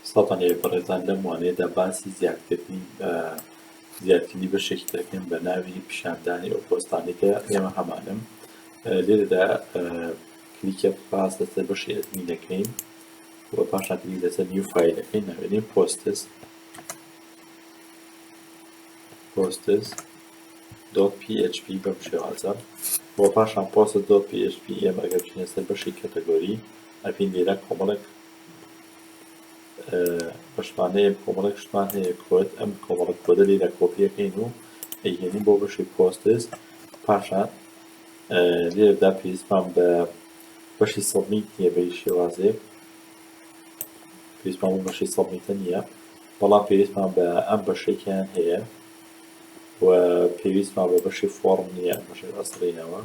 سڵاوتان لێبێت بەڕێزان لەم وانەیەدا باسی زیادکردنی زیادکردنی بەشێکی دەکەین بە ناوی پیشاندانی ئەو پۆستانەی کە ئێمە هەمانم لێرەدا کلیکە پاس لەسەر بەشی ئەدمی دەکەین و پاشان کلیک لەسەر نیو فایل دەکەین ناوێنین پۆستس پۆستس دۆت PHP بەم شێوازە و پاشان پۆستس دۆت PHP ئێمە ئەگەر بچینە سەر بەشی کەتەگۆری ئەپین لێرە کۆمەڵێک بەشمانەیە کۆمەڵێک شتمان هەیە کۆد ئەم کۆمەڵک کۆدە لێرە کۆپیەکەین و ئەیهێنین بۆ بەشی پۆستس پاشان لێرەدا پێویستمان بە بەشی سەڵمیت نیە بە شێوازێک پێویستمان بە بەشی سەڵمیتە نییە بەڵام پێویستمان بە ئەم بەشێکیان هەیە و پێویستمان بە بەشی فۆرم نییە بەشێک ئەسڵینەوە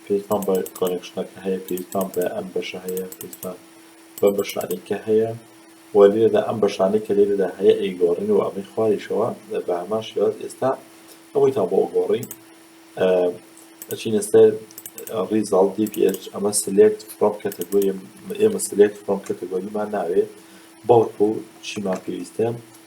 پێویستمان بە کۆنێکشنەکە هەیە پێویستمان بە ئەم بەشە هەیە پێویستمان بە بەشانی کە هەیە و لێرەدا ئەم بەشانی کە لێرەدا هەیە ئەیگۆڕین و ئەمەی خواریشەوە بە هەمان شێواز ئێستا ئەوەی تا بۆ گۆڕین ئەچینە سەر ریزاڵ DPH ئەمە سلێکت فرۆم کەتەگۆری ئێمە سلێکت فرۆم کەتەگۆریمان ناوێ بەڵکو چیمان پێویستە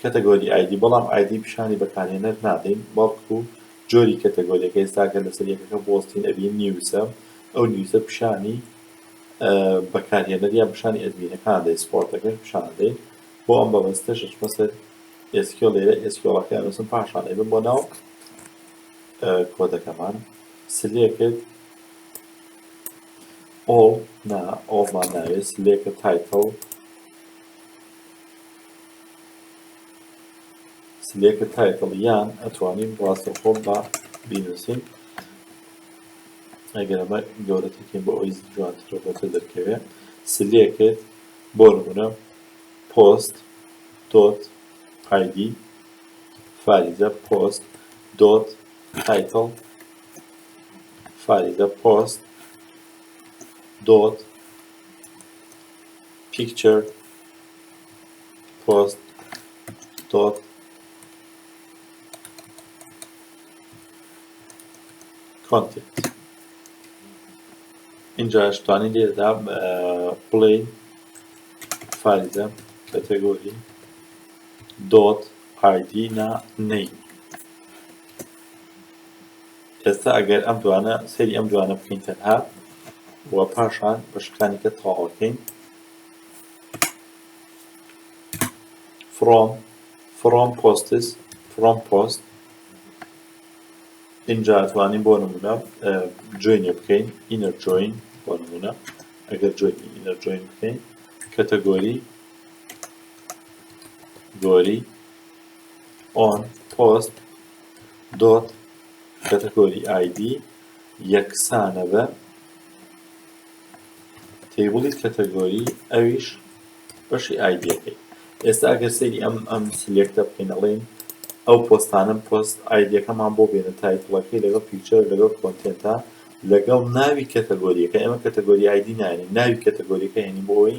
کەتەگۆری ئایدی بەڵام ئایدی پیشانی بەکارهێنەر نادەین بەڵکو جۆری کەتەگۆریەکە ئێستا ئەگەر لەسەر یەکەکە بوەستین ئەبین نیوزە ئەو نیوزە پیشانی بەکارهێنەر یان پیشانی ئەدمینەکان دەین سپۆرتەکەش پیشان ئەدەین بۆ ئەم بەبەستەش ئەچمە سەر SQL لێرە SQLەکە ئەنووسم پاشان ئەبم بۆ ناو کۆدەکەمان سلێکت ئۆڵ نا ئۆڵمان ناوێت سلێکە تایتڵ سلێکە تایتڵ یان ئەتوانین ڕاستەخۆ بە بینووسین ئەگەر ئەمە گەورەترکەین بۆ ئەوی جوانتر بۆتە دەرکەوێ سلێکت بۆ نمونە پۆست دۆت ئایدی فاریزە پۆست دۆت تایتڵ فاریزە پۆست دۆت پیکچەر پۆست دۆت کۆنتێنت اینجا شتوانی لێدا بڵێ فایلە کەتەگۆری دۆت ئایدی نا نەی ئێستا ئەگەر ئەم دوانە سەیری ئەم دوانە بکەین تەنها و پاشان بەشەکانی کە تەواوەکەین فرۆم فرۆم پۆستس فرۆم پۆست اینجا توانین بۆ نمونە جوینێ بکەین ئینەر جوین بۆ نمونە ئەگەر جوینی ئینەر جوین بکەین کەتەگۆری گۆری ئۆن پۆست دۆت، کەتەگۆری ئایدی یەکسانە بە تەیبڵی کەتەگۆری ئەویش بەشی ئایدیەکەی ئێستا ئەگەر سەیری ئەم ئەم سلێکتە بکەین ئەڵێین ئەو پۆستانم پۆست ئایدیەکەمان بۆ بێنە تایتڵەکەی لەگەڵ پیکچەر لەگەڵ کۆنتێنتا لەگەڵ ناوی کەتەگۆریەکە ئێمە کەتەگۆری ئایدی ناێنین ناوی کەتەگۆریەکە هێنین بۆی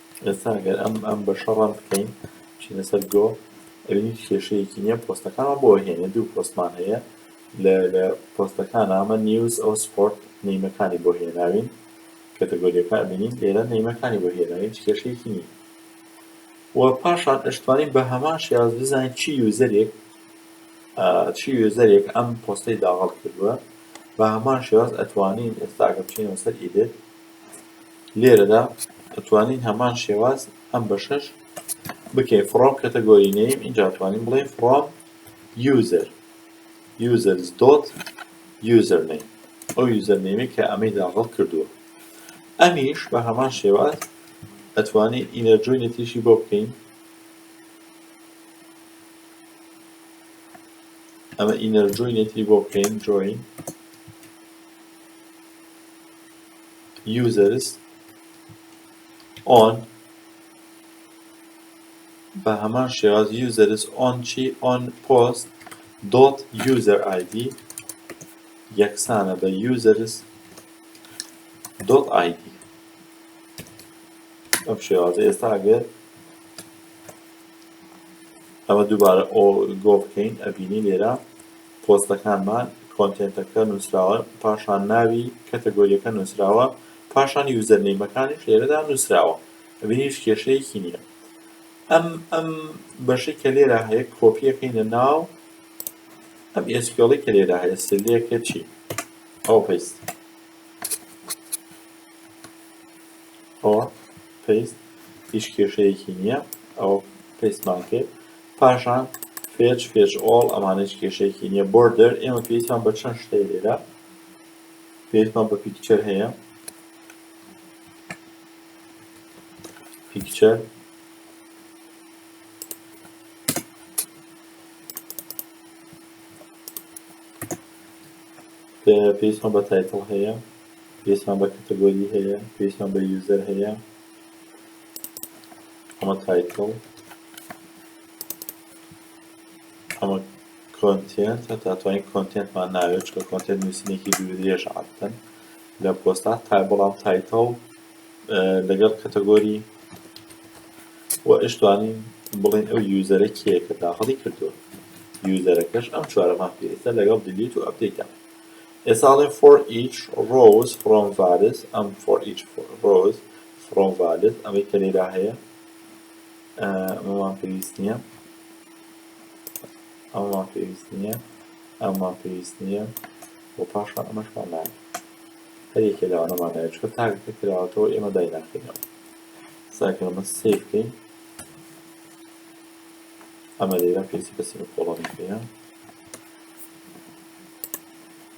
ئێستا ئەگەر ئەم ئەم بەشە ڕەن بکەین چینە سەر گۆ ئەبین هیچ کێشەیەکی نییە پۆستەکانمان بۆ هێنێ دوو پۆستمان هەیە لە لە پۆستەکان ئەمە نیوز ئەو سپۆرت نەیمەکانی بۆ هێناوین کەتەگۆریەکە ئەبینین لێرە نەیمەکانی بۆ هێناوین هیچ کێشەیەکی نییە و پاشان ئەشتوانین بە هەمان شێاز بزانین چی یوزەرێک چی یوزەرێک ئەم پۆستەی داغڵ کردووە بە هەمان شێاز ئەتوانین ئێستا ئەگەر بچینەوە سەر ئیدێت لێرەدا ئەتوانین هەمان شێواز ئەم بەشەش بکەین فڕۆم کەتەگۆری نەیم اینجا توانین بڵێین فڕۆم یوزەر یوزەرز دۆت یوزەر نەیم ئەو یوزەر نەیمی کە ئەمەی داغڵ کردووە ئەمیش بە هەمان شێواز ئەتوانین ئینەرجۆینێتیشی بۆ بکەین ئەمە ئینەرجۆینێتی بۆ بکەین جۆین users on بە هەمان شێواز users on چی on post dot user id یەکسانە بە users dot id ئەم شێوازە ئێستا ئەگەر ئەمە دووبارە گۆ بکەین ئەبینی لێرە پۆستەکانمان، کۆنتێنتەکە نوسراوە پاشان ناوی کەتەگۆریەکە نوسراوە پاشان یوزەرنەیمەکانیش لێرەدا نوسراوە ئەبینی هیچ کێشەیەکی نیە ئەم ئەم بەشەی کە لێرە هەیە کۆپیەکەینە ناو ئەم ئێسکیۆڵی کە لێرە هەیە سلێکە چی ئەو پەیست ئەوە پەیست هیچ کێشەیەکی نییە ئەو پێستمان کرد پاشان فێچ فێچ ئۆڵ ئەمانە هیچ کێشەیەکی نییە بۆردەر ئێمە پێویستمان بە چەند شتەی لێرە پێویستمان بە پیکچەر هەیە پیکچەر پێویستمان بە تایتڵ هەیە پێویستمان بە کەتەگۆری هەیە پێویستمان بە یوزەر هەیە ئەمە تایتڵ ئەمە کۆنتێنت هەتا توانین کۆنتێنتمان ناوێت چکە کۆنتێنت نووسینێکی دوو درێژ عادەتەن لە پۆستا تا بەڵام تایتڵ لەگەڵ کەتەگۆری و ئشتوانین بڵین ئەو یوزەرە کێ کە داخڵی کردووە یوزەرەکەش ئەم چوارەمان پێویستە لەگەڵ دلیت و ئەپدەیتە ئێساڵێ for each rose from varis ئەم for each rose فڕۆ ڤالد ئەوەی کە لێرا هەیە ئەمەمان پێویست نییە ئەمەمان پێویست نییە ئەمەمان پێویست نییە بۆ پاشان ئەمەشمان نایە هەر یەکێ لەوانەمان نایە چکە تاگەکە کراوەتەوە ئێمە دایناخینەوە ساکە ئەمە سێ بکەین ئەمە لێرە پێسی بەسی بە کۆڵەنی پێە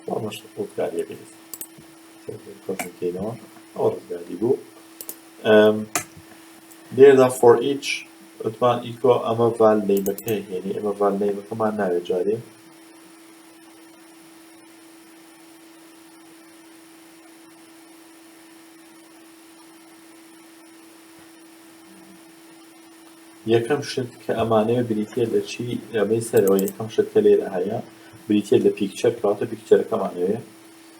ئەمەش ئەو کاریە بێت لێرەدا for each وتمان ئیکۆ ئەمە ڤال نەیمەکە هێنی ئەمە ڤال نەیمەکەمان ناوێت جارێ یەکەم شت کە ئەمانەیە بریتە لە چی ئەمەی سەرەوە یەکەم شت کە لێرە هەیە بریتە لە پیکچەر کاتە پیکچەرەکەمانەوێ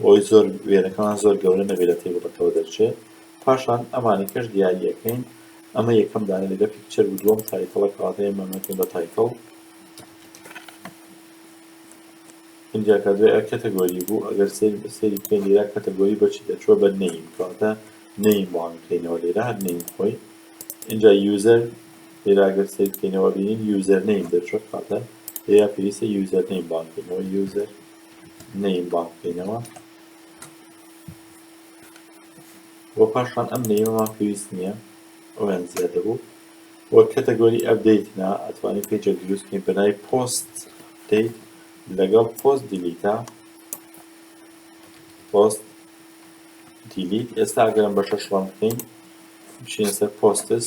بۆی زۆر وێنەکەمان زۆر گەورە نەبێت لە تەیبڵەکەوە دەرچێت پاشان ئەمانەکەش دیاریەکەین ئەمە یەکەم دانە لەگە پیکچەر و دووەم تایتڵە کەواتەیە مەمەکەین بە تایتڵ اینجا کە دوێ کەتەگۆری بوو ئەگەر سێری بەسێری پێ لێرا کەتەگۆری بەچی دەچوە بە نەیم کەواتە نەیم بۆ ئەنکەینەوە لێرا هەر نەیم خۆی اینجا یوزەر لێرە ئەگەر سەیر بکەینەوە ئەبینین یوزەرنەیم دەرچووە کەواتە لێرە پێویستە یوزەرنەیم بانگ بکەینەوە یوزەر نەیم بانگ بکەینەوە و پاشان ئەم نەیمەمان پێویست نییە ئەویان زیادە بوو وە کەتەگۆری ئەبدەیت نا ئەتوانین پێجە دروست بکەین بەنای پۆست دەیت لەگەڵ پۆست دیلیتا پۆست دیلیت ئێستا ئەگەرم بە شەشڵان بکەین بچینە سەر پۆستس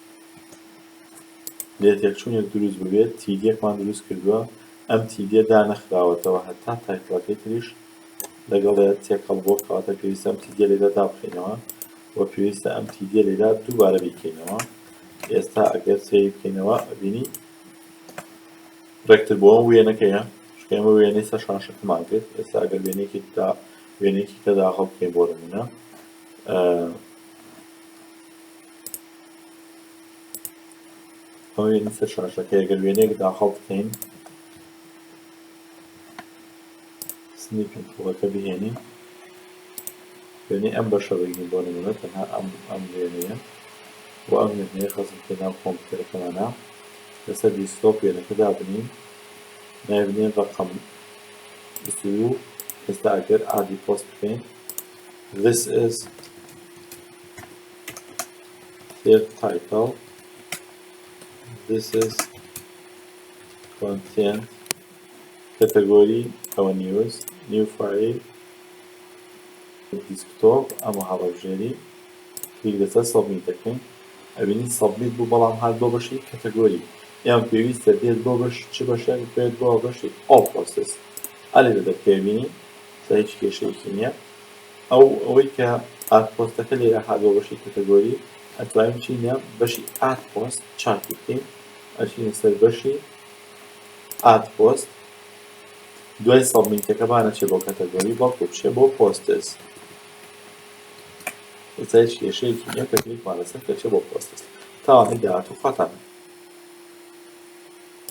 لێتێکچوونێک دروست ببێت تیدیەکمان دروست کردووە ئەم تیدیە دانەخراوەتەوە هەتا تایتڵەکەی تریش لەگەڵێ تێکەڵ بووە کەواتە پێویستە ئەم تیدیە لێرە دابخەینەوە وە پێویستە ئەم تیدیە لێرە دووبارە بیکەینەوە ئێستا ئەگەر سەیر بکەینەوە ئەبینی ڕێکتر بۆ ئەم وێنەکەیە چکە ئێمە وێنەی سەر شاشەکەمان کرد ئێستا ئەگەر وێنێکی دا وێنێکی کە داخڵ بکەین بۆ نمونە ئەوەیە لە سەر شاشەکەی ئەگەر وێنەیەک داخڵ بکەین سنیپین پوڵەکە بهێنین وێنەی ئەم بەشە بگین بۆ نمونە تەنها ئەم ئەم وێنەیە و ئەم وێنەیە خەزم بکەین ناو کۆمپیوتەرەکەمانە لەسەر دیسکتۆپ وێنەکە دابنین نایبنین ڕقم زوو ئێستا ئەگەر ئادی پۆست بکەین this is Here title This is content category our news new file desktop اما هەڵەبژێری کلیک لەسەر سەبمیت دەکەین ئەبینین سەبمیت بوو بەڵام هات بۆ بەشی کەتەگۆری یان پێویستە بێت بۆ بەش چ بەشێک بێت بۆ بەشی ئۆ پرۆسس ئەلێ دەکەوێنی تا هیچ کێشەیەکی نییە ئەو ئەوەی کە ئارت پۆستەکە لێرە هات بۆ بەشی کەتەگۆری ئەتوانین بچینە بەشی ئارت پۆست چاکی بکەین ئەچینە سەر بەشی ئارت پۆست دوای سەبمیتەکە با نەچێ بۆ کەتەگۆری بەڵکو بچێ بۆ پۆستس ئێستا هیچ کێشەیەکی نییە کە کلیکمان لەسەر کە چێ بۆ پۆستس تاوانی داهاتوو خەتەنە